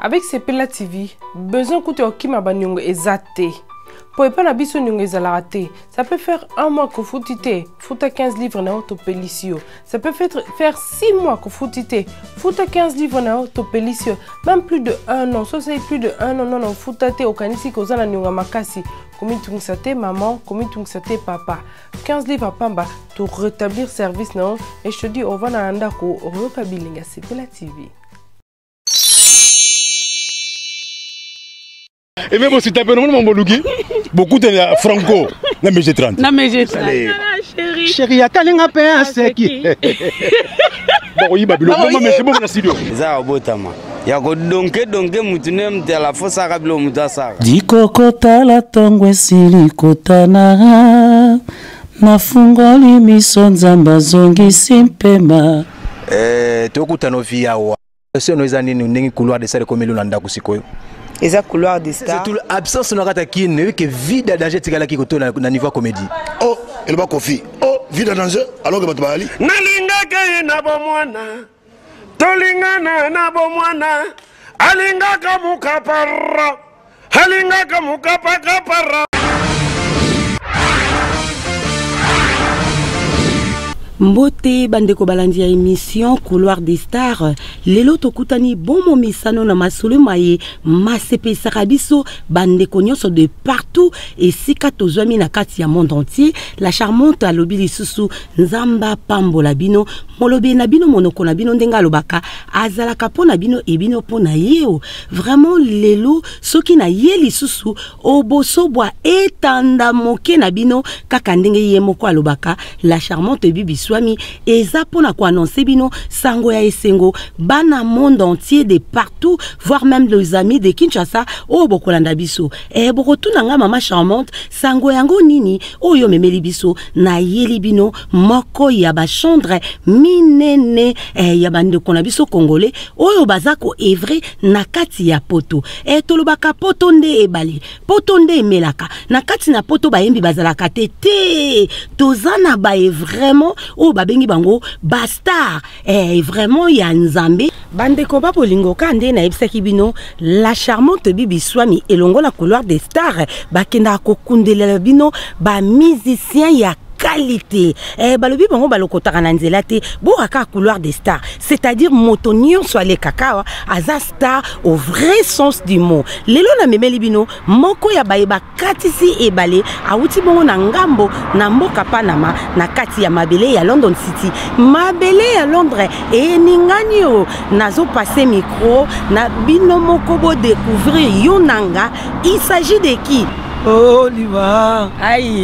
avec sepela tv besoin kutu ya kokima baniongo eza te mpo epai na biso niongo ezalaka te ça peut faire un mois kofuti te futa 15 livre na yo topelisi yo ça peut faire, faire 6 mois kofuti te futa 15 livre na yo topelisi yo même plus de un an so osali plus de un an nono ofuta te okanisi koza na niongo ya makasi komitungisa te maman komitungisa te papa 15 livres à pamba to rétablir service na et je te dis on va na ndako oyoka bilinga la tv Et même si tu as mon boluki, beaucoup de franco, na mg 30. Na mg 30. Chérie. Chérie, atalinga pe aseki. Bakoyiba biloko, mama mesi bongo na studio. Za obotama. ya kodonke donke motu nde moto ya lafosaka bilo motu asaka dikokotala ntongo esili kotana nafungoli miso nzambe azongisi mpema eh, tokutana ovi yawa sono eza nini ndenge couloir de sale ekomeli na ndako sikoyo eza couloir de star tout absence na kata kin oyebi ke vide danger etikalaki kotola na niveau ya comédie oh eloba kofi oh vide danger alors ke bato bayali nalingaki ye na bomwana tolingana na bomwana alingaka mukapara alingaka mukapakapara mbote bandeko balandi ya émission couloir des stars lelo tokutani bomo misano na masolo maye masepesaka biso bandeko nyonso de partout esika tozwami na kati ya monde entier la charmante alobi lisusu Nzambe apambola bino, molobi na bino monoko na bino ndenge alobaka azalaka mpo na bino e bino mpo na ye o. Vraiment lelo soki na ye lisusu oboso bwa etanda moke na bino kaka ndenge ye moko alobaka la charmante Bibi Swami eza mpo na koannonce bino sango ya esengo bana monde entier de partout voire même les amis de Kinshasa oyo bokolanda biso. Eh bokotuna nga mama charmante Sango yango nini oyo memeli biso na yeli bino moko ya ba chambre minene eh, ya bandeko na biso congolais oyo baza ko evre na kati ya poto eh, tolobaka poto nde ebale poto nde emelaka na kati na poto bayembi bazalaka te te toza na baye vraiment oyo babengi bango ba star Eh, vraiment ya nzambe bandeko ba bolingo ka nde nayebisaki bino la charmante bibi swami elongo na couloir des stars bakendaka kokundelela bino bamusicien ya qualité eh, balobi bango balokotaka na nzela te boka kaka couloir des stars c'est-à-dire moto nyonso alekaka awa aza star au vrai sens du mot lelo namemeli bino Moko ya baye bakatisi ebale awuti bongo na ngambo na mboka Panama na kati ya mabele ya London City. Mabele ya Londres eningani o nazo passer micro na bino moko bo découvrir yo nanga. Il s'agit de qui? Oliva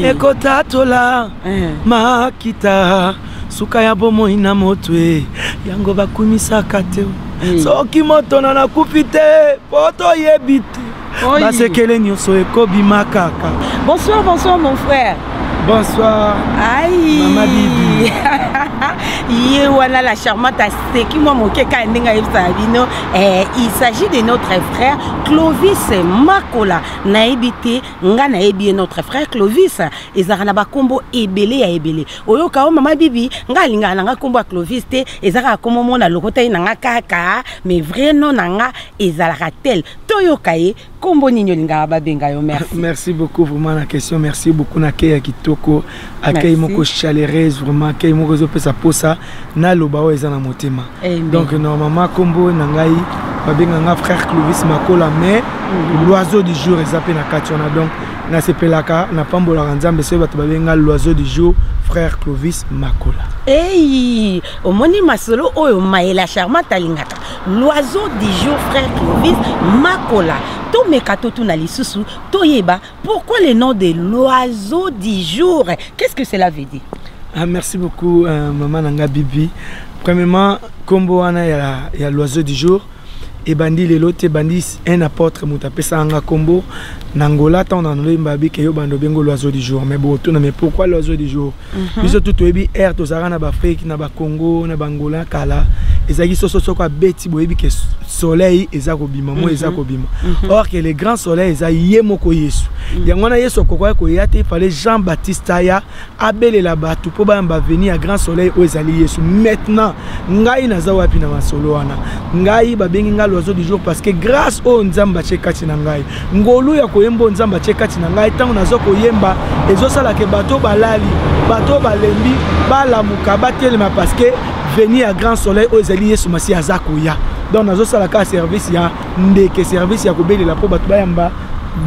ekotatola eh. makita suka ya bomoi na motwe yango bakumisaka te soki moto na nakufi te po toyebi te basekele nyonso ekobima kaka bonsoir bonsoir mon frère bonsoir ayi mama bibi ye wana la charmante aseki mwa moke kaka ndenge ayebisaka bino eh, il s'agit de notre frère clovis makola nayebi te ngai nayebi ye notre frère clovis ezalaka na bakombo ebele ya ebele oyoka o mama bibi ngai alingaka na ngai kombo ya clovis te eza kaka kombo mona lokotaki na ngai kaka mais vrai non na ngai ezalaka tel toyoka ye nkombo nini olingaka babenga yo merci merci beaucoup vraiment na question merci beaucoup na kei ya kitoko akei moko chaleureuse vraiment akei moko ezopesa mposa naloba oyo eza na motema donc normalement nkombo na ngai babenga nga frère clovis makola mais mhm. l'oiseau du jour eza mpe na kati wana donc nasepelaka napambolaka nzambe soki bato babenga l'oiseau du jour frère clovis makola ei omoni masolo oyo mayela charmante alingaka L'oiseau du jour frère Clovis Makola tomeka totuna lisusu toyeba pourquoi le nom de l'oiseau du jour qu'est-ce que cela veut dire ah, merci beaucoup euh, maman nanga bibi premièrement kombo wana ya, ya l'oiseau du jour ebandi lelo te ebandi un apôtre moto apesaka nga kombo na ngola ntango na nolemba abike yo bando bengo l'oiseau du jour mais botuna mais pourquoi l'oiseau du jour mhm. biso tu toyebi aire tozalaka na baafrike na bakongo na bangola kala ezalaki soso soko abeti boyebi ke soleil eza kobima moi eza mhm. kobima mhm. or ke le grand soleil eza ye moko yesu mhm. yango wana yesu akokaki koya te fale jean baptiste aya abelela bato mpo bayamba veni ya grand soleil oyo ezali yesu maintenant ngai naza wapi na masolo wana ngai babengi ngai loiseau du jour parce que grâce oyo nzambe atie kati na ngai ngolu ya koyemba oyo nzambe atye kati na ngai ntango naza koyemba ezosalaka bato oyo balali bato oyo balembi balamuka batelema parceke veni ya grand soleil oyo ezali yesu masi aza koya donc nazosala kaka service ya ndeke service ya kobelela mpo bato bayamba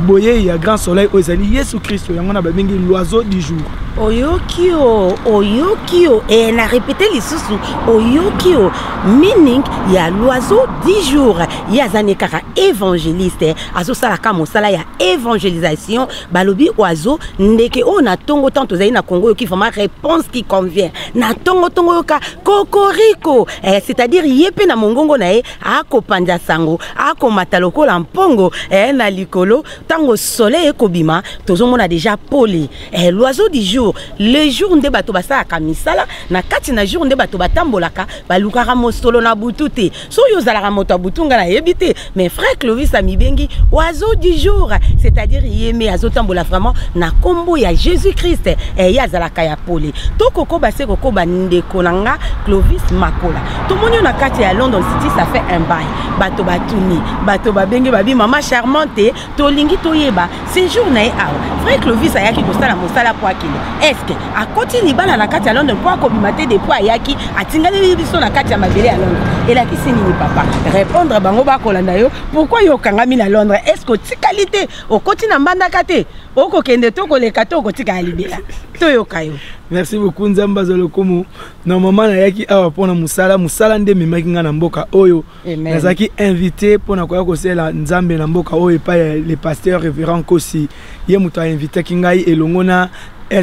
boyei ya grand soleil oyo ezali yesu kristo yango na babengi loiseau du jour oyoki o oyoki o e na repete lisusu oyoki o meaning ya loiseau du jour ye aza ne kaka évangéliste azosala ka mosala ya évangélisation balobi oiseau ndeke oyo na ntongo ntango tozali na congo oyoki vraiment réponse qui convient na ntongo ntongo oyoka kokoriko eh, c'est-à-dire ye mpe na mongongo na ye akopanza sango akomata lokola mpongo eh, na likolo ntango soleil ekobima tozomona déjà pole eh, l'oiseau du jour le jour nde bato basalaka misala na kati na jour nde bato batambolaka balukaka mosolo na butu te soki ozalaka moto ya butu ngai nayebi te mais frère clovis amibengi oiseau du jour c'est-à-dire ye me azotambola vraiment na nkombo ya jésus christ eh, ye azalaka ya pole to kokoba se kokoba ndeko na nga clovis makola tomoni yo na kati ya london city ça fait un bail bato batuni bato babenge babi mama charmante tolingi toyeba sejour na ye awa vrai clovis ayaki kosala mosala mpo akende estce akoti libala na kati ya london mpo akobima te depuis ayaki atingaleli biso na kati ya mabele ya london elakisi nini papa repondre bango bakolanda yo pourkui yo okangami na londres estce otikali te okoti na mbandaka te okokende to koleka to okotika ya libela toyoka yo merci beaucoup nzambe azwa lokumu normalement nayaki awa mpo na mosala mosala nde ememaki ngai na mboka oyo nazalaki invité mpo na koya kosela nzambe na mboka oyo epai ya le pasteur révérend kosi ye moto ainvitaki ngai elongo na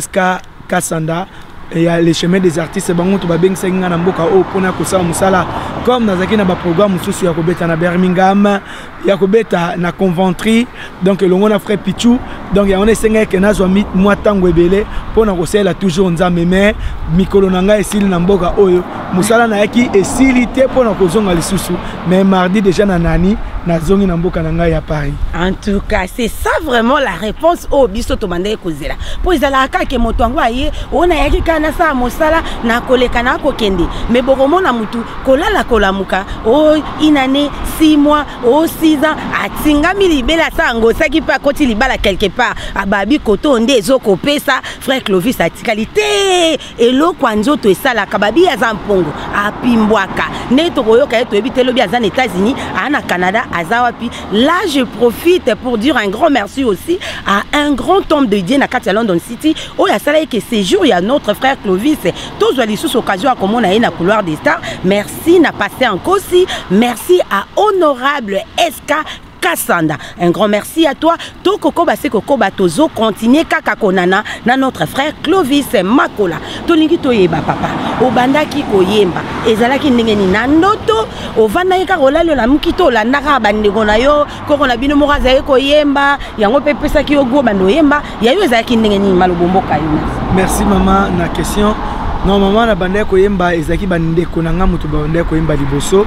sk kasanda ya le chemin des artistes bango moto babengisaki ngai na mboka oyo mpo na kosala mosala comme nazalaki na baprogramme mosusu ya kobeta na birmingham ya kobeta na conventry donc elongo na frère pichu donc yango na esengaki ke nazwa mwa ntango ebele mpo na kosalela toujours nzambe mais mikolo na ngai esili na mboka oyo mosala nayaki esili te mpo na kozonga lisusu mais mardi déjà na nani nazongi na mboka na ngai ya paris en tout cas c'est ça vraiment la réponse oyo biso tobandaki kozela mpo ezalaka kaka moto yango aye oyo nayaki kaka nasala mosala nakoleka nakokende mais bokomona motu kolala kolamuka o oh, inane six mois o 6 ans atingami libela asa angosaki mpe akoti libala quelque part ababi kote oyo nde ezokopesa frère clovis atikali te eloko ya nzoto esalaka babi aza mpongo apimbwaka nde tokoyoka ye toyebi te lobi aza na états-unis aa na canada aza wapi là je profite pour dire un grand merci aussi à un grand homme de dieu na kati ya london city oyo asalaki ke séjour ya notre frère clovis tozwa lisusu occasion ya komona ye na couloir des stars merci merci na pasteur nkosi merci à honorable sk kasanda un grand merci à toi tokokoba se kokoba tozo continue kaka konana na notre frère clovis makola tolingi toyeba papa obandaki koyemba ezalaki ndenge nini na ndoto ovandaki kaka olali olamuki to olandaka bandeko na yo koko na bino moko azalaki koyemba yango mpe epesaki yo go banda oyemba ya yo ezalaki ndenge nini malobomboka yo merci mama na question non mama na bandaki koyemba ezalaki bandeko na ngai moto bandaki koyemba liboso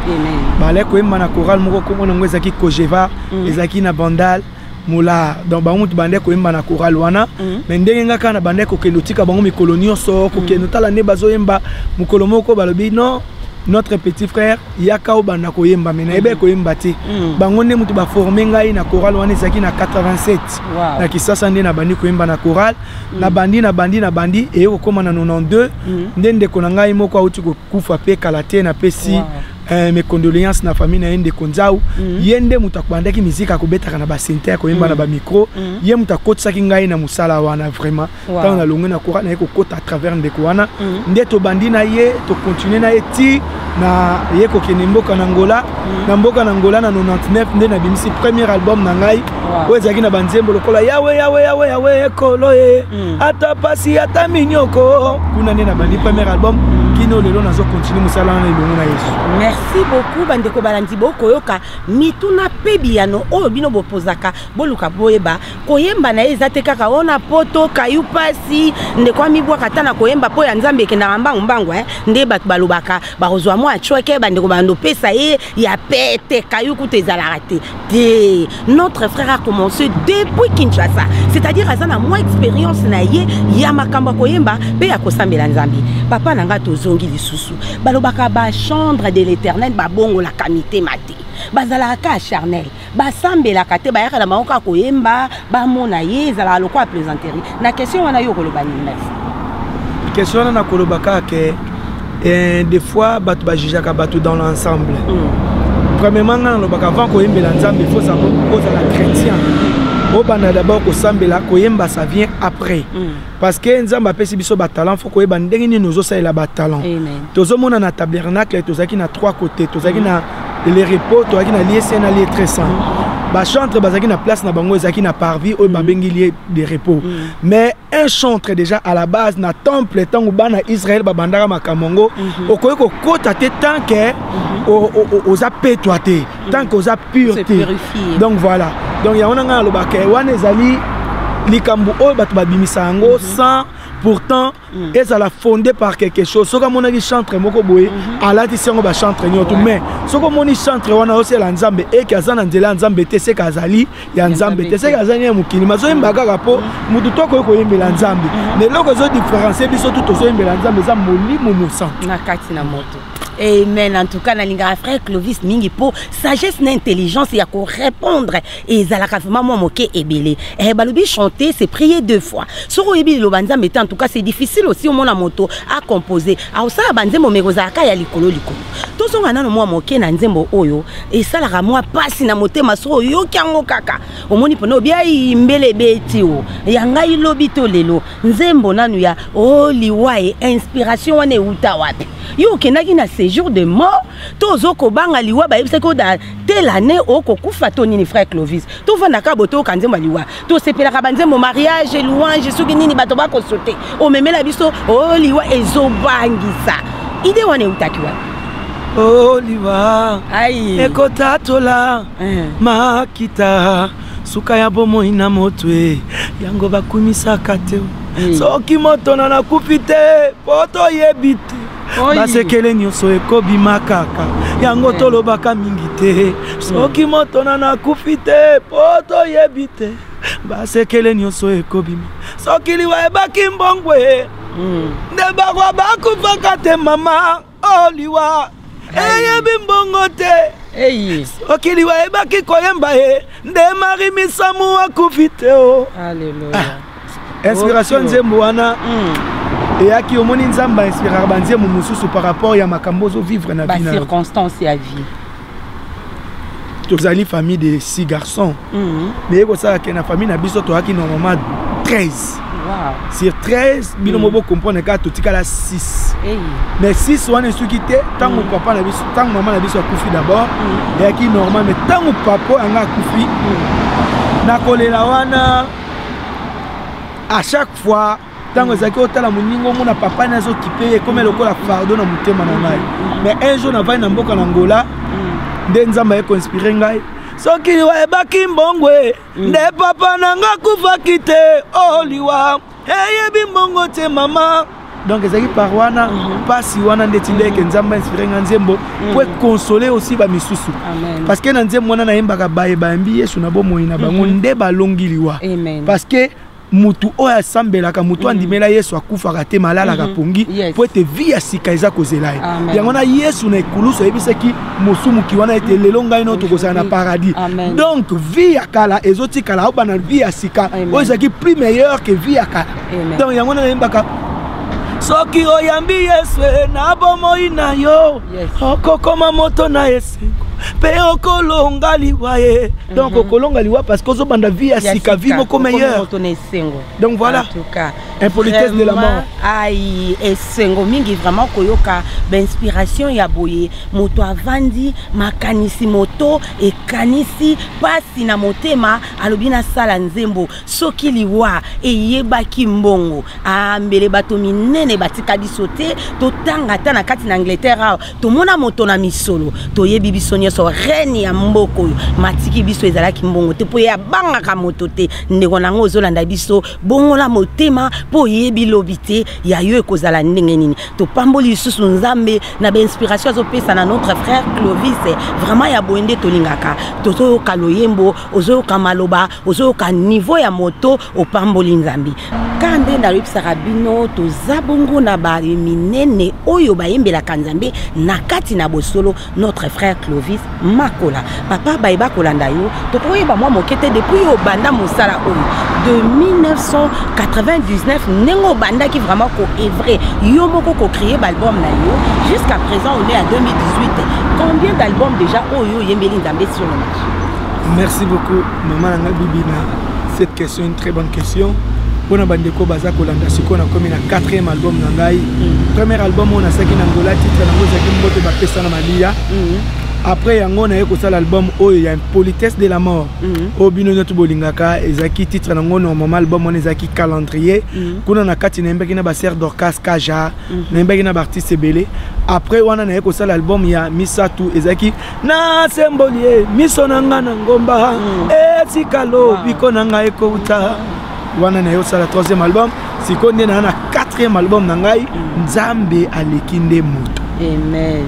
balaki koyemba na coral moko nkombo nango ezalaki cogeva mm. ezalaki na bandal mola donc bango moto bandaki koyemba na coral wana mm. mais ndenge ngai kaka na bandaki kokende otika bango mikolo nyonso kokende mm. otala nde bazoyemba mokolo moko balobi non notre petit frère yaka obanda koyemba me nayebaki mm. koyemba te mm. bango nde moto baforme ngai na chorale wana ezalaki na 87 na kisasa nde nabandi koyemba na chorale mm. nabandi nabandi nabandi eye kokóma na 92 nde ndeko na ngai moko auti kokufa mpe kala te napesi eh, mes condoléances na famille na ye ndeko nzau ye nde moto akobandaki miziki akobetaka na basente akoyemba na bamicro ye moto akotisaki ngai na mosala wana vraiment wow. ntango nalongwe na kora naye kokota à travers ndeko wana mm -hmm. nde tobandi na ye tokontinue na ye ti na ye kokende mboka na ngola mm -hmm. na mboka na ngola na 99 nde nabimisi premier album na ngai oyo wow. ezalaki na banzembo lokola yawe yawe yawe yawe ekolo ye mm -hmm. ata pasi ata minyoko kuna nde nabandi premier album mm -hmm. bino lelo nazokontinue mosala wana elongo na yesu merci beaucoup bandeko balandi bokoyoka mituna mpe biyano oyo bino bopozaka boluka boyeba koyemba na ye eza te kaka o na poto kayu mpasi ndeko amibwaka ata na koyemba mpo ya nzambe ekendaka mbangu mbangu eh? nde bato balobaka bakozwa mwa acweke bandeko bando pesa ye ya pete kayu kutu ezalaka te te notre frère a commencé depuis kinshasa c'est-à-dire aza na mwa expérience na ye ya makambo ya koyemba mpe ya kosambela nzambe papa na ngai tozongi lisusu balobaka bachambre de l'éternel babongolaka mitema te bazalaka ka charnel basambelaka te bayaka na bango kaka koyemba bamona ye ezalaka lokola plaisanterie na question wana yo okoloba nini na question wana nakoloba kaka ke eh, des fois bato bajugeaka bato dans l'ensemble mm. premièrement ngai nalobaka avant koyembela nzambe faut ozala chrétien obanda d'abord kosambela koyemba ça vient après mm. parce que nzambe apesi biso batalent fo koyeba ndenge nini ozosalela batalent tozomona na tabernacle tozalaki na trois côté tozalaki mm. na le repos tozalaki na lie saint na lie très saint mm. bachantre bazalaki na place na bango ezalaki na parvis oyo mm. babengi lie de repos mais un chantre déjà à la base na temple ntango bana israel babandaka makambo yango mhm. okoki kokota te tant ke mhm. oza petwa te tant que oza pure te donc voilà donc yango na ngai nalobaka wana ezali likambo oyo bato babimisa yango mhm. sans pourtant mm. ezala fondé par quelque chose soki amonaki chantre moko boye mhm. alatisi yango bachantre nyonso mais soki omoni chantre wana osela nzambe eke aza na nzela ya nzambe te seke azali ya nzambe te seke azali ya mokili mazoyemba kaka mpo mhm. motu to akoki koyembela nzambe na eloko ezodifférencie biso tu tozoyembela nzambe eza molimo mosantu na kati na moto amen en tout cas nalingaka frère clovis mingi mpo sagesse na intelligence ya korépondre ezalaka vraiment mwa moke ebele eh, balobi chanter c'est prier deux fois soki oyebi liloba nzambe te en tout cas c'est difficile aussi omona moto acompose akosala banzembo meko ozalaka ya likolo likolo tozonga nano mwa moke na nzembo oyo esalaka mwa mpasi na motema soki oyoki yango kaka omoni mpona obi ayi mbele ebeti o ya ngai lobi to lelo nzembo nanu ya o oh, liwa e inspiration wana ewuta wapi yo okendaki na séjour de mort to ozo kobanga liwa bayebisaki oda tel année okokufa to nini frère clovis tofandaka botoyoka nzembo ya liwa tosepelaka banzembo mariage louange soki nini bato bakosote omemela biso o oh, liwa ezobangisa ide wana ewutaki wapi oliva ekotatola eh. makita suka ya bomoi na moto e yango bakumisaka te hmm. soki moto na nakufi te mpo toyebi te basekele nyonso ekobima kaka yango eh. tolobaka mingi te soki moto na nakufi te mpo toyebi te basekele nyonso ekobima soki liwa ebaki mbongwe hmm. nde bakwa bakufaka te mama oh liwa eyebi mbongo te soki liwa ayebaki koyemba ye nde mari misamu akufi te o ah, inspiration nzembo wana hmm. eyaki omoni nzambe ainspiraka banzembo mosusu par rapport ya makambo ozovivre na vie na circonstance ya vie tozali famille de six garçons mhm. meye kosala ke na famille na biso toyaki normalement 13 sur 13 bino mo mhm. bocomprendre kaka totikala 6 mais 6 wana esuki te ntango mhm. papa na biso ntango mama na biso akufi d'abord eyaki normal mais ntango papa oyo yanga akufi na kolela wana à chaque fois ntango ezalaki otala moninga omona papa ne azokipe ye ekomi lokola fardo na motema na ngai mais un jour navandi na mboka na ngola nde nzambe aye koinspire ngai soki liwa ebaki mbongwe nde papa na nga akufaki te o oh, liwa eyebi mbongo te mama donc ezalaki par wana mpasi mhm. wana ndeti ndeke mhm. nzambe inspire nga nzembo mhm. po ekonsole aussi bamisusu parce que na nzembo wana nayembaka baye bayambi yesu na bomoi na bango nde balongi liwa parce que mutu oyo asambelaka mutu mm. andimela yesu akufaka te malalaka mm-hmm. pongi mpo ete vi ya sika eza kozela ye yango wana yesu na ekulusu ayebisaki mosumuki wana ete mm. lelo ngai no tokozala na paradis donc vi ya kala ezotikala obanda vi ya sika oyo ezalaki plus meilleur ke vi ya kala donc yango wana nayembaka soki oyambi yesu e, na bomoi na yo okokoma moto na esengo mpe okolonga liwa ye donc mm -hmm. kolonga liwa parce que ozobanda vie ya sika vie moko meilleure donc voilà impolitesse de la mort ai esengo mingi vraiment koyoka bainspiration ya boye moto avandi makanisi moto ekanisi mpasi na motema alobi nasala nzembo soki liwa eyebaki mbongo ambele ah, bato minene batika biso te totanga ata na kati na angleterre awa tomona moto na misolo toyebi biso nyonso rene ya mboka oyo matiki biso ezalaki mbongo te mpo ye abangaka moto te ndeko na yango ozolanda biso bongola motema mpo oyebi lobi te ya yo ekozala ndenge nini topamboli lisusu nzambe na bainspiration azopesa na notre frère clovis vraiment ya boye nde tolingaka tozoyoka loyembo ozoyoka maloba ozoyoka niveau ya moto opamboli nzambe kaka nde nayebisaka bino toza bongo na baye minene oyo bayembelaka nzambe na kati na bosolo notre frère clovis makola papa baye bakolanda yo tokoyeba mwa moke te depuis yo obanda mosala oyo de 1999 ndenge obandaki vraiment koevre yo moko kocreye baalbum na yo jusqu'à présent on est à 2018 combien d'album déjà oyo oyembeli nzambe sur le marché merci beaucoup Maman na nga bibi na cette question une très bonne question. mpo na bandeko baza kolanda sikoyo nakomi na 4e album na ngai mm. premier album oyo nasalaki na ngola titre nango ezalaki mbote bapesa na maliya mm. après yango naye kosala album oyo ya impolitesse de la mort mm. oyo bino nyonso bolingaka ezalaki titre nango normalement album wana ezalaki calendrier kuna na kati nayembaki na baser dorcas kaja nayembaki na baartiste ebele après wana naye kosala album ya misato ezalaki nasemboli ye miso na nga na ngomba mm. etika lobiko na ngai ekouta wana naye osala 3e album sikoyo nde naa na 4e album na ngai mm. nzambe aleki nde moto amen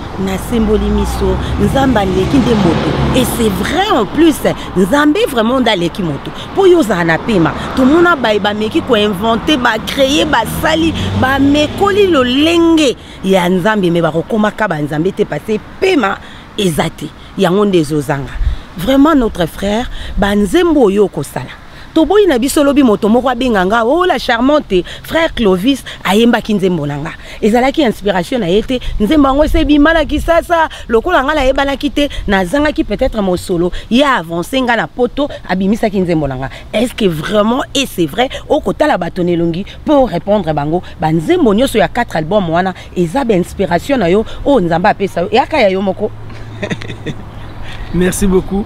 nasimboli miso nzambe aleki nde moto et c'est vrai en plus nzambe vraiment nde aleki moto mpo yo ozala na pema tomona baye bameki koinvente bacreye basali bamekoli lolenge ya nzambe me bakokomaka banzambe te pase pema eza te yango nde ezozanga vraiment notre frère banzembo oyo okosala toboyi na biso lobi moto moko abenga nga o oh, la charmante frère clovis ayembaki nzembo na nga ezalaki inspiration na ye te nzembo yango ese ebima na kisasa lokola nga nayebanaki te nazangaki peut-être mosolo ye avance nga na poto abimisaki nzembo na nga est ce que vraiment et c'est vrai okotala bato na elongi mpo orépondre bango banzembo nyonso ya 4 album wana eza ba inspiration na yo oyo nzambe apesa yo eyaka ya yo moko merci beaucoup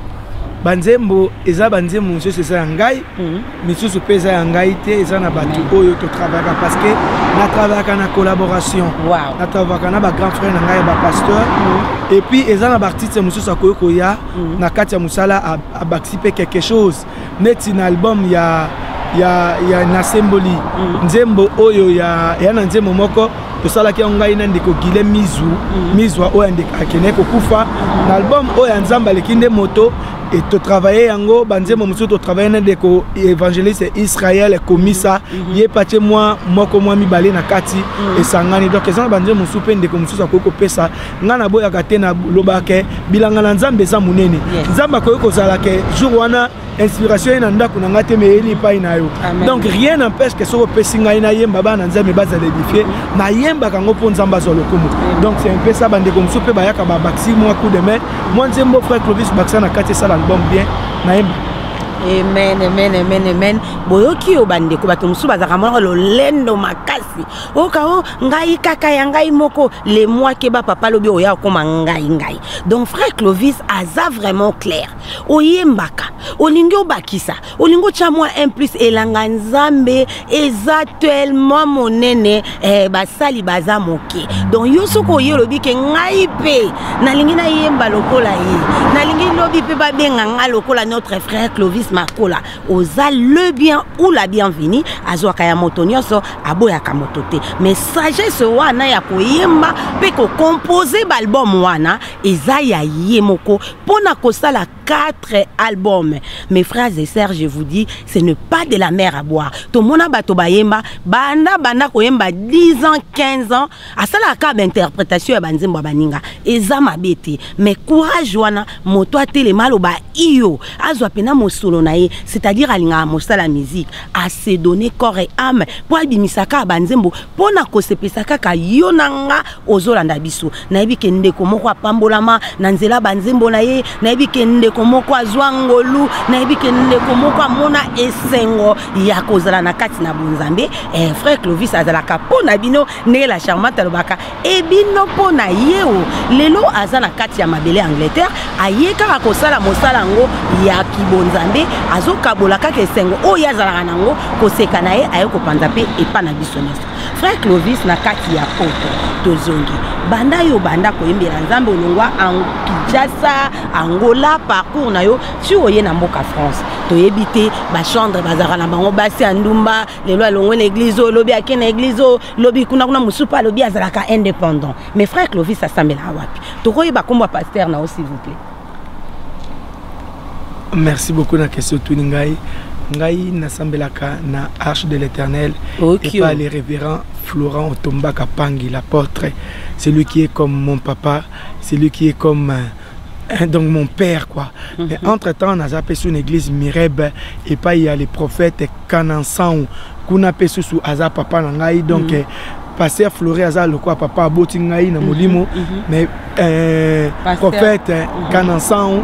banzembo eza banzembo mosusu eza ya ngai mhm. misusu mpe eza ya ngai te eza na bato mhm. oyo totravayaka parce que natravayaka na collaboration natravayaka na bagrand frère na ngai ya bapasteur mhm. epuis eza na baartiste mosusu akoki koya na kati ya mosala abakisi mpe quelque chose neti na album ya ya, ya nasemboli mm. nzembo oyo ya, ya na nzembo moko tosalaki yango ngai na ndeko gile mizu mm. mizwa oyo akendeki kokufa na album oyo ya nzambe aleki nde moto e totravaille yango banzembo mosusu totravaille na ndeko évangéliste israel komisa mm -hmm. ye patie mwa moko mwa mibale na kati mm -hmm. esangani donc eza na banzembo mosusu mpe ndeko mosusu akoki kopesa nga naboyaka te nalobaka ke bilanga na nzambe eza monene nzambe akoki kozala ke jour wana inspiration ye na ndako na ngai te me eyeli epai na yo donc rien n'empêche ke soki opesi ngai nayemba bana nzambe bazala edifie nayembaka yango mpo nzambe azwa lokumu donc c'est mpe sa bandeko mosusu mpe bayaka babakisi mwa coup de main mwa nzembo frère clovis bakisa na kati esala album bien nayemba amen amen amen amen boyoki yo bandeko bato mosusu bazalaka monaka lolendo makasi oka o ngai kaka ya ngai moko le moi keba papa lobi oya okoma ngai ngai donc frère clovis aza vraiment clair oyembaka olingi obakisa olingi otya mwa un plus elanga nzambe eza tellement monene eh, basali baza moke donc yo soki oye olobi ke ngai mpe nalingi nayemba lokola ye nalingi lobi mpe babenga ngai lokola notre frère clovis makola oza le bien ou la bienvenue azwaka ya moto nyonso aboyaka moto te mais sagesse wana ya koyemba mpe kocompose baalbum wana eza ya ye moko mpo na kosala 4 album mes frères et sœurs je vous dis ce ne pas de la mer à boire tomona bato bayemba banda banda koyemba 10 ans 15 ans asalaka kaka bainterpretation ya banzembo ya baninga eza mabe te mais courage wana moto atelema aloba iyo azwa mpena mosolo na ye c'est-à-dire alingaka mosala musique ase donne corps et ame mpo abimisa kaka banzembo mpo na kosepesa kaka yo na nga ozolanda biso nayebi ke ndeko moko apambolama na nzela banzembo na ye nayebi ke ndeko moko azwa ngolu nayebi ke ndeko moko amona esengo ya kozala na kati na bonzambe eh, frère clovis azalaka mpo na bino ndenge la charmante alobaka e bino mpo na ye o lelo aza na kati ya mabele ya angleterre aye kaka kosala mosala yango ya kibonzambe azokabola kaka esengo oyo azalaka na yango koseka na ye aye kopanza mpe epa na biso nyonso frère clovis na kati ya poto tozongi banda yo banda koyembela nzambe olongwa ango kinshasa angola parcours na yo ti oye na mboka france toyebi te bachandre bazalaka na bango basi ya ndumba lelo alongwe na eglize oyo lobi ake na eglize oyo lobi kuna kuna mosusu mpe alobi azalaka indépendant mais frère clovis asambelaka wapi tokoyeba nkombo ya paster na yo s'il vous plaît merci beaucoup na question tuni ngai ngai nasambelaka na arche de l'éternel okay. epa le révérend florent otombaka pangi l'apôtre celui qui est comme mon papa celui qui est comme euh, Hein, donc mon père quoi mhm. mais entre temps naza mpe sur une église mirebe epai ya le prophète kanansangu kuna mpe susu aza papa na ngai donc mm -hmm. pasteur flore aza lokola papa aboti ngai na mhm, molimo mm -hmm. mais euh, prophète mm -hmm. kanansangu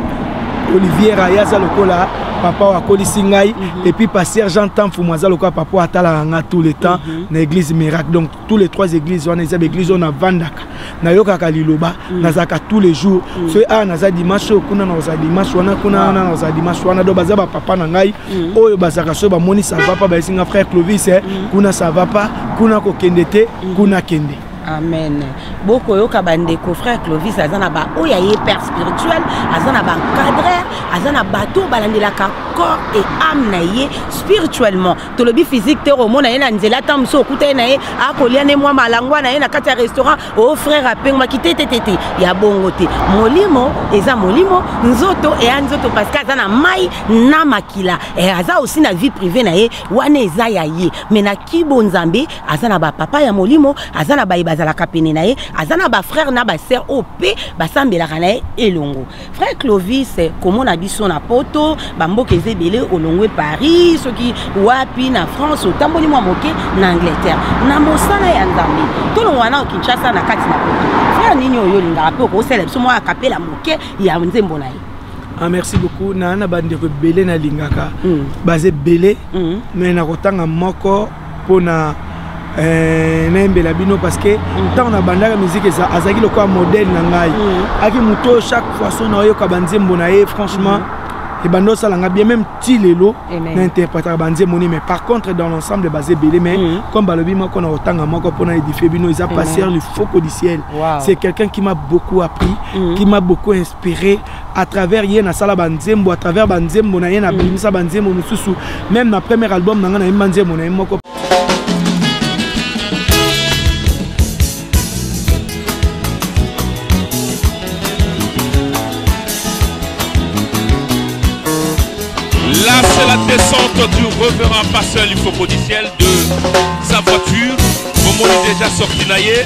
oliviera ye aza lokola papa oyo akolisi ngai mm -hmm. epuis pasteur jean tamfumu aza lokola papa oyo atalaka ngai tout le temps mm -hmm. na église miracle donc tous les trois églises wana eza baeglise oyo navandaka nayokaka liloba mm. nazalaka tous les jours mm. soki awa ah, naza dimanche oyo kuna naoza dimanche wana kuna wana naoza dimanche wana donc baza bapapa na ngai mm. oyo bazalaka soki bamoni ça va pas bayesi nga frère clovis eh, kuna ça va pas kuna kokende te kuna kende amen bokoyoka bandeko frère clovis aza na baoyo aye père spirituel aza na baencadreur aza na bato balandelaka corps et âme na ye spirituellement tolobi physique te okomona ye na nzela ntango mosusu okuta ye na ye akolia ne mwa malangwa na ye na kati ya restaurant o oh, frère apengwaki te tetete ya bongo te molimo eza molimo nzoto eya nzoto parce que aza na mai na makila e, aza aussi na vie privée na ye wana eza ya ye mais na kibo nzambe aza na bapapa ya molimo aza na baye bazalaka pene na ye aza na bafrère na basœur oyo mpe basambelaka na ye elongo vrai clovis komona biso na poto bamboka eza ebele olongwe paris soki wapi na france otamboli mwa moke na angleterre na mosala ya nzambe tolongwa nao kinshasa na kati na poto frere nini oyo olingaka mpe okosala biso mwa akapela moke ya nzembo na ye Ah, merci beaucoup na na bandeko ebele nalingaka mm. baza ebele mm. mais nakotanga moko pona Eh, nayembela bino parce que ntango nabandaka miziki azalaki lokola modèle na ngai mm. aki moto oyo chaque façon naoyoka banzembo na ye franchement mm. ebanda osala nga bien même ti lelo na interprétaka banzembo nini mais par contre dans l'ensemble baza ebele mais mm. comme balobi moko na kotanga moko mpo na édifie bino eza passer le faux codiciel c'est quelqu'un qui m'a beaucoup appris qui m'a beaucoup pere à travers ye nasala banzembo à travers banzembo na ye nabimisa banzembo mosusu même na premier album na ngai nayemba nzembo na ye moko Là, c'est la descente du reverend pasteur lymphoconiciel de sa voiture. Momo est déjà sorti naïe.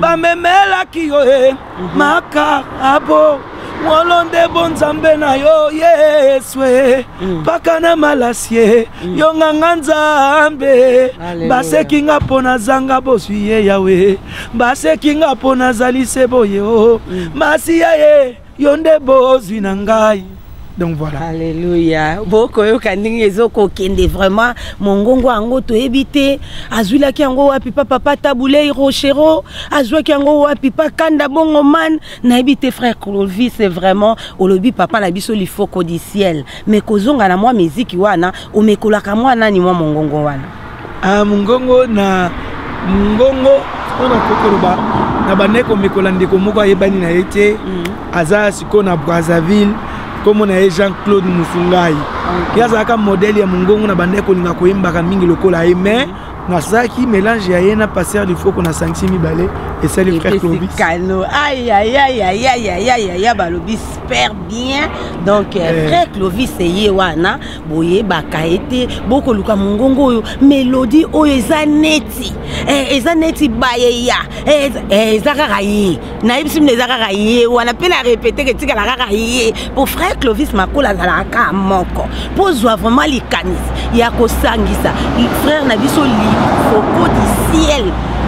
bamemelaki yo e makarabo wolo nde bonzambe na yo yesu e mpaka na malasi e yo nganga nzambe baseki nga mpo nazanga bozwi ye yawe baseki nga mpo nazali se boye o masiya ye yo nde bozwi na ngai donc voilà alléluia bokoyoka ndenge ezokokende vraiment mongongo yango toyebi te azwilaki yango wapi pa papa tabulei rochero azwaki yango wapi pa kanda bongo man nayebi te frère clovis c'est vraiment olobi papa na biso lifoko du ciel mais kozonga na mwa miziki wana omekolaka mwa nani mwa mongongo wana Ah, mongongo na mongongo oyo nakoki koloba na bandai komekola ndeko moko ayebani na ye te mm. aza sikoyo na brazzaville nkombo na ye jean claude musungai ye azalaka modele ya mongongo na bandai kolinga koyembaka mingi lokola ye mais mm. nasalaki mélange ya ye na passer lifoko na sangisi mibale esali frère clovis balobi super bien donc euh, eh. frère clovis eye wana boyebaka ye te bokoluka mongongo oyo melodi oyo eza neti eh, eza neti bayeya eh, eh, eza kaka ye nayebisi mino eza kaka ye wana mpe na repeteke etikala kaka ye mpo frère clovis makola azalaka kaka moko mpo ozwa vraiment likanisi ya kosangisa frère na biso lifoko du ciel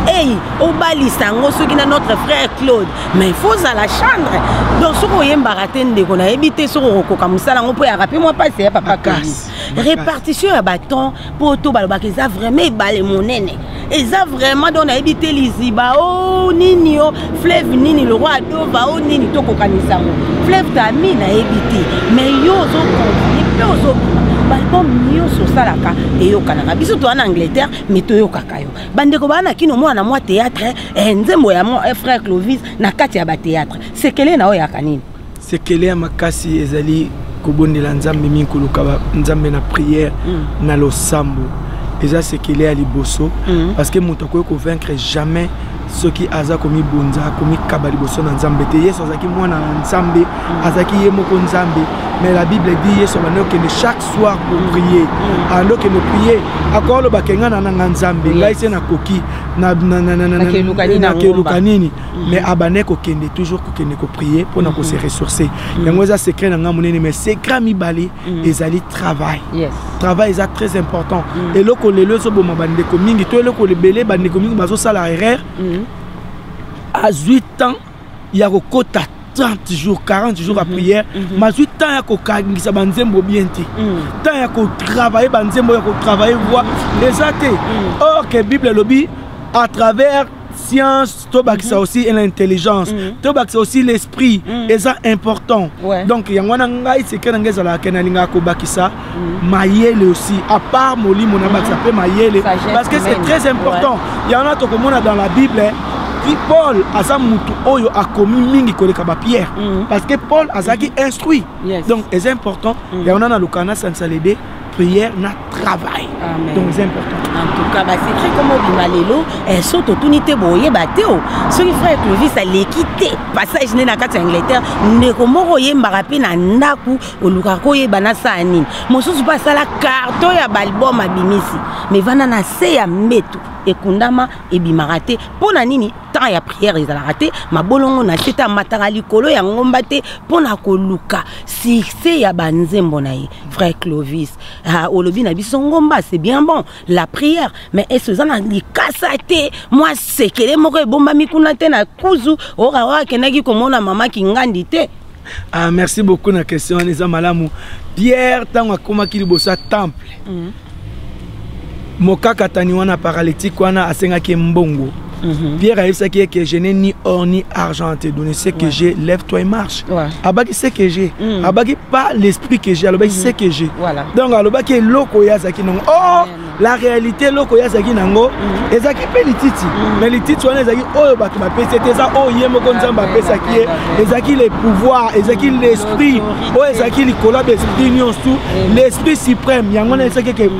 ei obalisa yango soki na notre frère claude mais faut ozala chandre donc soki oyembaka te ndeko nayebi te soki okokoka mosala yango mpo eyaka mpe mwa mpasi ya papa kasi répartition ya baton mpo to balobaka eza vraiment ebale monene eza vraiment donc nayebi te liziba o oh, nini o oh, fleuve nini lokwa adova o oh, nini tokokanisa yango fleuve tami nayebi te mais yo ozokontinue mpe ozobima baalbum nyonso osalaka eyokanaka biso toa na angleterre mais toyokaka yo bandeko baa na kino mwana mwa théâtre eh, nzembo ya mwa eh, frère clovis na kati ya bathéâtre sekele na oyo yaka nini sekele ya makasi ezali kobondela nzambe mingi koluka nzambe na prière mm. na losambo eza sekele ya liboso mm. parce que moto akoki kovaincre jamais soki aza komibonza komikaba liboso na nzambe te yesu azalaki mwana na nzambe mm. azalaki ye moko nzambe mais la bible dit yesu abandi okende chaque soir pour prier mm. ando ah, kende prier akoloba ke ngai nananga nzambe ngai se nakoki nakeluka nini mm. mais abandai kokende toujours kokende koprier mpo na kose mm-hmm. ressourcer mm. yango eza secret na ngai monene mais secret mibale ezali travail travail eza très important eloko lelo ezoboma bandeko mingi to eloko lebele bandeko mingi bazosala erreur azwi temps ya kokota 30 jours 40 jours ya mhm. prière mhm. mazwi temps ya kokangisa banzembo bien te mhm. temps ya kotravaille banzembo ya kotravaille voi eza te or ke bible elobi à travers science tobakisa aussi na intelligence tobakisa aussi l'esprit eza important donc yango wana ngai seke na ngai ezalaka ke nalingaka kobakisa mayele aussi à part molimo na bakisa mpe mayele parce que c'est très important ouais. yango na tokomona dans la bible ti paul aza motu oyo akomi mingi koleka bapierre mm. parce que paul azalaki mm-hmm. instruit yes. donc eza important mm. yango na nalukaka na sansalede prière na travail Amen. donc eza important en tout cas basecret koma obima lelo eh, so totuni te boyeba te o oh. soki frère clovis aleki te passage nde na kati ya angleterre ndeko moko oyembaka mpe na ndako olukaka koyeba nasala nini mosusu mpe asala karto ya baalbum abimisi me vanda na se ya mbetu ekundama ebimaka te mpo na nini temps ya prière ezalaka te mabolongo na se te amataka likolo ya ngomba te mpo na koluka succès ya banzembo na ye frère clovis ah, olobi na biso ngomba c'est bien bon la prière mais ese oza na likasa te mwa sekele moko ebombami kuna te na kuzu oyoka oyo akendaki komona mama kingandi te Ah, merci beaucoup na question wana eza malamu pierre ntango akomaki liboso ya temple mm. mokakatani wana paralytique wana asengaki mbongo Mm -hmm. Pierre ayebisaki ye que je n'ai ni or ni argent à te donner ce que ouais. j'ai lève toi et marche ouais. abaki ce que j'ai mm. abaki pas l'esprit que j'ai alobaki mm -hmm. ce que j'ai voilà. donc alobaki eloko ye azalaki nango oh yeah. la réalité eloko ye azalaki nango mm. ezalaki mpe lititi mm. mais lititi wana ezalaki oyo bato bapesi ete eza oyo ye moko nzambe apesaki ye ezalaki le pouvoir ezalaki l'esprit oyo ezalaki likolo ya baesprit nyonso tout mm. l'esprit suprême yango wana esaki ke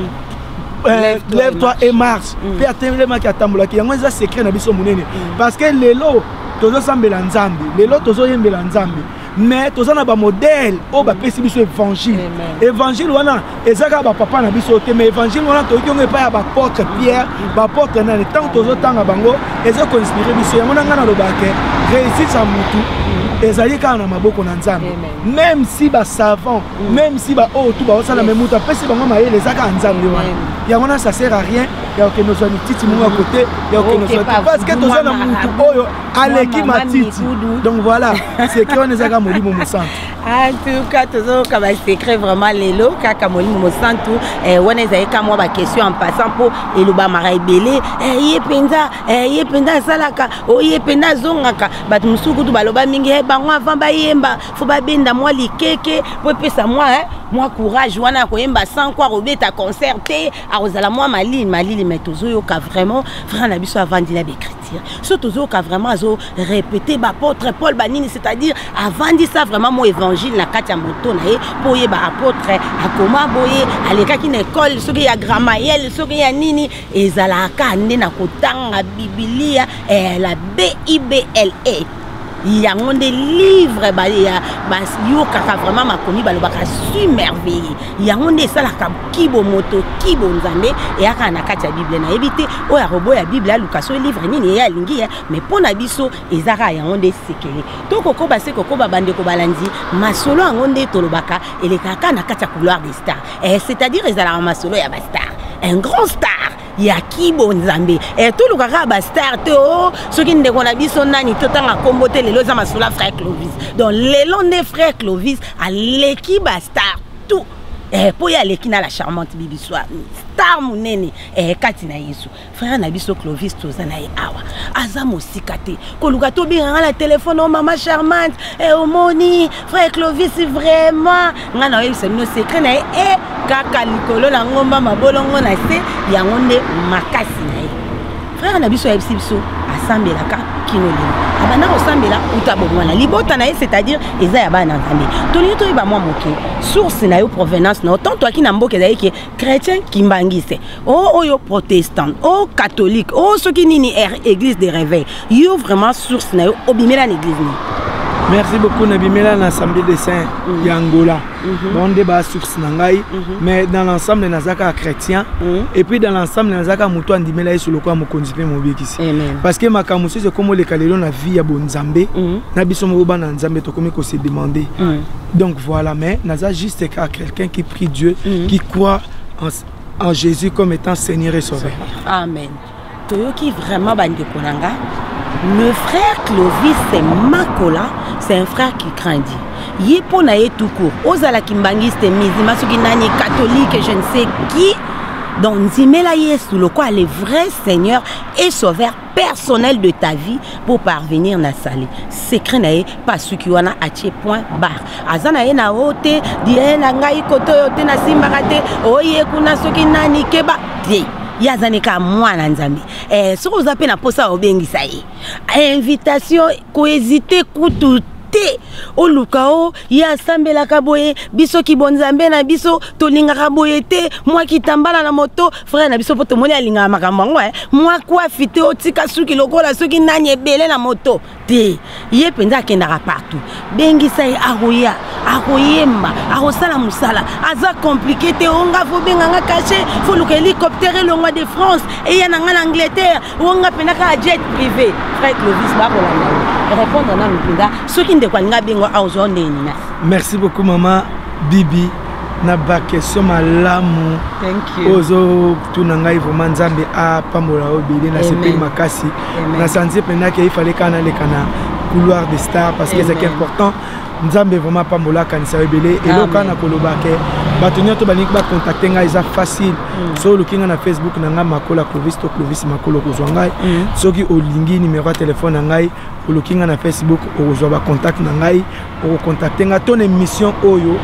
euh, lève toi et marche mpe atelemaki atambolaki yango eza secret na biso monene parce que lelo tozosambela nzambe lelo tozoyembela nzambe mais toza na bamodele oyo bapesi biso évangile évangile wana eza kaka bapapa na biso te mais évangile wana toyoki yango epai ya baportre pierre baportre nani ntango tozotanga bango eza koinspire biso yango na ngai nalobaka ke réussite ya motu ezali kaka na maboko na nzambe même si basavant mm. même si baoyo tu baosala me moto apesi bango mayele eza kaka nzambe wana yango wana ça sert à rien ya kokende ozwa mititi moko ya kote ya kokende ozwa parce que toza na motu oyo aleki matiti donc voilà seke wana ezaka molimo mosantu en tout cas tozoyoka basecret vraiment lelo kaka molimo mosantu eh, wana ezali ka mwa baquestion en passant mpo elobamaka ebele eh, ye mpenza eh, ye mpenza asalaka o oh, ye mpenza azongaka bato mosusu kutu baloba mingi e bango avant bayemba fo babenda mwa likeke mpo epesa mwa mwa courage wana ya koyemba sans kua kobeta concert te akozala mwa malili malili mai tozoyoka vraiment frère na biso avandila becriti so tozoyoka vraiment azo répéter baapôtre paul banini c'est-à-dire avandisa vraiment mo évangile na kati ya moto na ye mpo oyeba apôtre akoma boye alekaki na ekole soki ya gramayele soki ya nini ezalaka nde na kotanga bibilia eh, la bibla yango nde livre bayokaka vraiment makomi balobaka su merveille yango nde esalaka kibo moto kibo nzambe eyaka na kati ya bible nayebi te oyo akoboya bible aluka so livre nini eye alingi ye mais mpo na biso eza kaka yango nde sekele to kokoba se kokoba bandeko balandi masolo yango nde tolobaka elekaka na kati ya couloir de star eh, c'est-à-dire ezalaka masolo ya bastar un grand star ya kibo nzambe eh, toluka kaka bastar te o oh, soki ndeko na biso nani totanga nkombo te lelo eza masolo frère clovis donc lelo nde frère clovis aleki bastar tout eh, mpo ye aleki na la charmante bibiswa star monene eh, kati na yesu frère na biso clovis toza na ye awa aza mosika te koluka tobenganga na telefone o oh, mama charmante eh, omoni frère clovis vraiment ngai naoyebisa bino secret na ye e eh, kaka likolo na ngomba mabolongo na se yango nde makasi na ye frère na biso ayebisi biso asambelaka kino lelo abanda kosambela uta bomwana libota na ye c'est-à-dire eza ya bana na nzambe tolingi toyeba mwa moke source na yo provenance na yo tant toyaki na mboka ezali ke chrétien kimbanguiste o oh, oyo oh, protestant o oh, catholique o soki nini er, église de réveil yo vraiment source na yo obimela na église nini merci beaucoup nabimela na assemblée de saint mm. ya angola mhm. bango nde basource na ngai mhm. mais dans l'ensemble naza kaka chrétien mhm. et puis dans l'ensemble naza kaka moto andimela yesu lokola mokonzi mpe mobikisi parce que makambo mosusu ekomi oleka lelo na vie ya bonzambe na biso moko bana nzambe tokomi kose demander donc voilà mais naza juste kaka Quelqu'un qui prie Dieu, mm -hmm. qui croit en, en Jésus comme étant Seigneur et Sauveur. Amen. Toyoki vraiment bandeko na nga. Le frère Clovis c'est Makola, c'est un frère qui craint Dieu. ye mpo na ye tout court ozala kimbangiste mizima soki nani catholique je ne sais qui donc ndimela yesu lokola le vrai seigneur et sauveur personnel de ta vie pour parvenir na sali secret na ye pasuki wana atie point bar aza na ye na o te die na ngai koto oyo te nasimbaka te oye kuna soki nani keba te ye aza ne kaka mwana nzambe eh, soki oza mpe na mposa obengisa ye invitation kohésite kutu te oluka o ye asambelaka boye biso kibonzambe na biso tolingaka boye te mwa kitambala na moto frère na biso mpo tomoni alingaka makambo yango eh. mwa kwafi te otika suki lokola soki nani ebele na moto te ye mpenza akendaka partout bengisa ye akoya akoyemba akosala mosala aza komplike te onga fobenga nga kashe foluka hélicoptère elongwa de france eya na nga na angleterre onga mpenza kaka jet privé frère clovis bakolanda répondre nanu mpenza soki ndeko alinga bengo aozwa ndenge nina merci beaucoup mama bibi na bakestion malamu ozo tuna ngai vraiment nzambe apambola yo ebele nasepeli makasi na santi mpenza ke ifale kaka naleka na couloir de star parce que ezalaki important nzambe vraiment apambola akanisa yo ebele eloko wana nakoloba ke bato nyonso balingi bakontakte ngai eza facile mm. so oluki ngai na facebook na ngai makola clovis to clovis makolo okozwa ngai mm. soki olingi nimero ya telefone na ngai oluki ngai na facebook okozwa bacontacte na ngai okocontacte nga to na émission oyo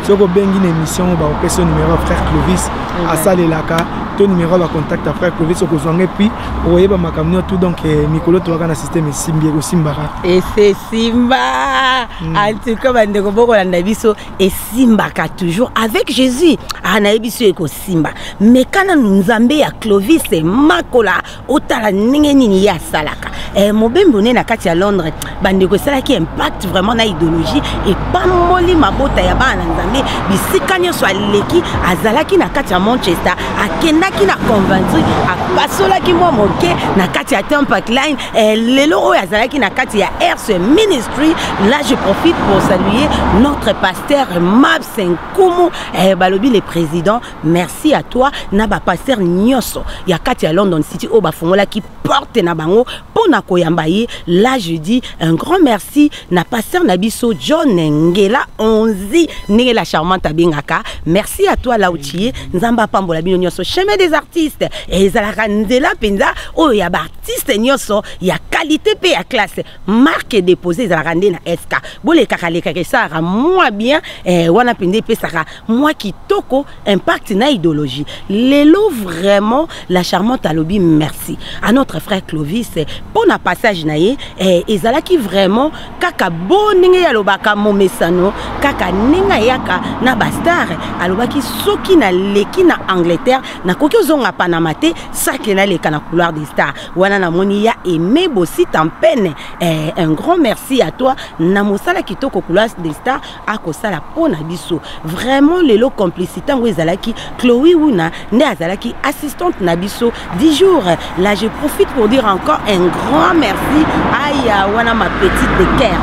soki obengi na émission oyo bakopesa yo numéro ya frère clovis mhm. asalelaka to numéro ya bacontact ya frère clovis okozwanga epuis okoyeba makambo nio tout donc eh, mikolo toyaka na système esimbi ekosimbaka esesimba hmm. antuka bandeko bokolanda biso esimbaka toujours avec jésus anayebi ah, so ekosimba meka nanu nzambe ya clovis makola otala ndenge nini ye asalaka eh, mobembe one na kati ya londres bandeko esalaki impact vraiment na idéologie epamboli mabota ya bana na nzambe bisika nyonso aleki azalaki na kati ya manchester akendaki na conventry apasolaki mwa moke na kati ya tempak line eh, lelo oyo azalaki na kati ya rs ministry là je profite pour saluer notre pasteur mabs nkumu eh, balobi le président merci à toi na ba pasteur nyoso ya kati ya london city oyo bafungolaki porte na bango mpo na koyamba ye là je dis un grand merci na pasteur na biso john ngela onzi ndenge la charmante abengaka merci à toi lauchie nzambe apambola bino nyoso chemin des artistes ezalaka nzela mpenza oyo ya baartiste nyoso ya qualité mpe ya classe marque dépose ezalaka nde na sk bolekaka lekaka esalaka mwa bien eh, wana mpenza epesaka mwa kitoko impact na idéologie lelo vraiment la charmante alobi merci à notre frère clovis mpo na passage na ye eh, ezalaki vraiment kaka bo ndenge alobaka momesano kaka ndenge ayaka na bastar alobaki soki naleki na angleterre nakoki ozonga panama te sake naleka na couloir des stars wana namoni ya aime bosita mpene eh, un grand merci à toi na mosala kitoko couloir des stars akosala mpo na biso vraiment lelo complicité yango ezalaki chloe wuna nde azalaki assistante na biso du jour là je profite pour dire encore un grand merci aya wana ma petite de cœur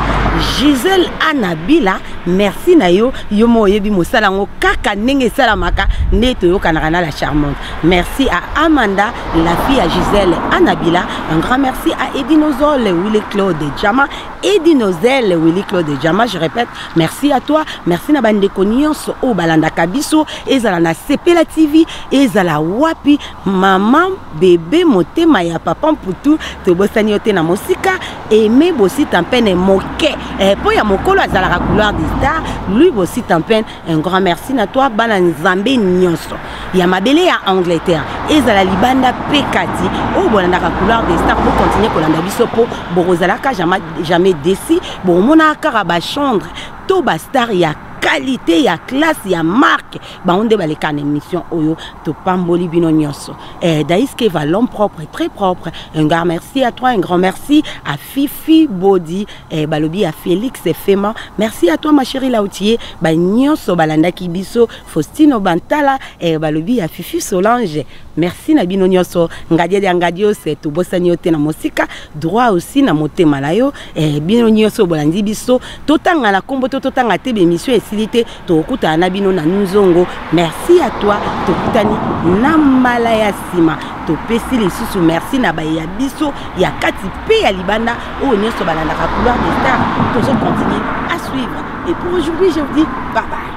gisele anabila merci na yo yo mo oyebi mosala yango kaka ndenge esalamaka nde toyokanaka na la charmante merci à amanda la fille ya gisele anabila un grand merci à edinozole wille claude jama Edi Nozel, Willy Claude Jama, je répète, merci à toi, merci na bandeko nyonso oyo balandaka biso, ezala na Sepela TV, ezala wapi, maman, bebe, motema ya papa mputu, tobosani yo te na mosika, aimé Bosi Tampene moke, eh, po ya mokolo azalaka couloir des stars, lui Bosi Tampene Un grand merci na toi bana nzambe nyonso ya mabele ya Angleterre ezala libanda pe kati oyo oh, bolandaka couleur de star bo continuer kolanda biso po bokozalaka jamais jamais déçu bokomonaka kaka ba chambre to ba star ya qualité ya classe ya marque bango nde baleka na émission oyo topamboli bino nyonso eh, daiskeva l'homme propre très propre un grand merci à toi un grand merci à fifi body eh, balobi ya Felix Fema merci à toi ma chérie Lautier ba nyonso balandaki biso Faustino Bantala eh, balobi ya Fifi Solange merci na bino nyonso ngadia dia ngadios tobosani yo te na mosika droit aussi na motema na yo eh, bino nyonso bolandi biso totanga na kombo to totanga te bemission esili te tokutana na bino na nzongo merci à toi tokutani na mbala ya nsima topesi lisusu merci na baye ya biso ya kati mpe ya libanda oyo nyonso balandaka couloir de star tozo continue à suivre et pour aujourd'hui je vous dis bye bye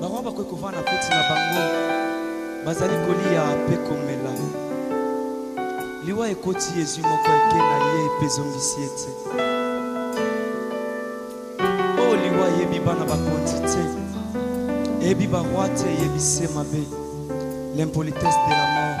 bango bakoki kovanda na feti na bango bazali koliya mpe komela liwa ekoti yezwi moko eke na ye mpe ezongisi ye te o oh, liwa eyebi bana bakonzi te eyebi barwa te eyebi se mabe l'impolitesse de la mort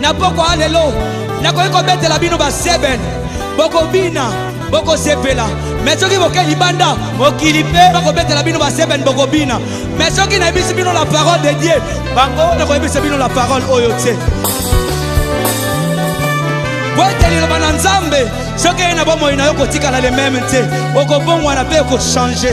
na pokwa ya lelo nakoki kobetela bino baseben bokobina bokosepela me soki boke libanda mokili mpe bakobetela bino baseben bokobina me soki nayebisi bino la parole de dieu bango nakoyebisa bino la parole oyo te po ete liloba na nzambe soki eye na bomoi na yo kotikala lememe te okobongwana mpe okochange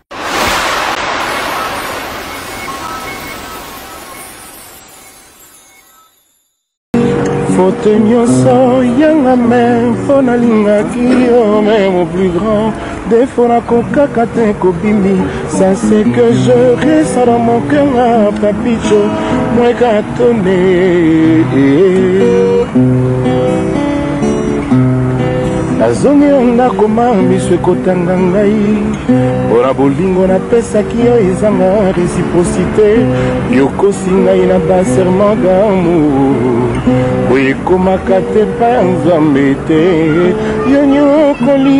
faute nyonso yanga me mpo nalingaki yo me mon plus grand defo nakokaka te kobimi ça c'est que je resa dans mon cœur papicho mweka Come, nazongi na ndako ma miso ekotanga ngai mpo na bolingo napesaki yo ezanga reciprocité yokosi ngai na baserment d'amour oyo ekomaka te pa ya nzambe te yo nyokoli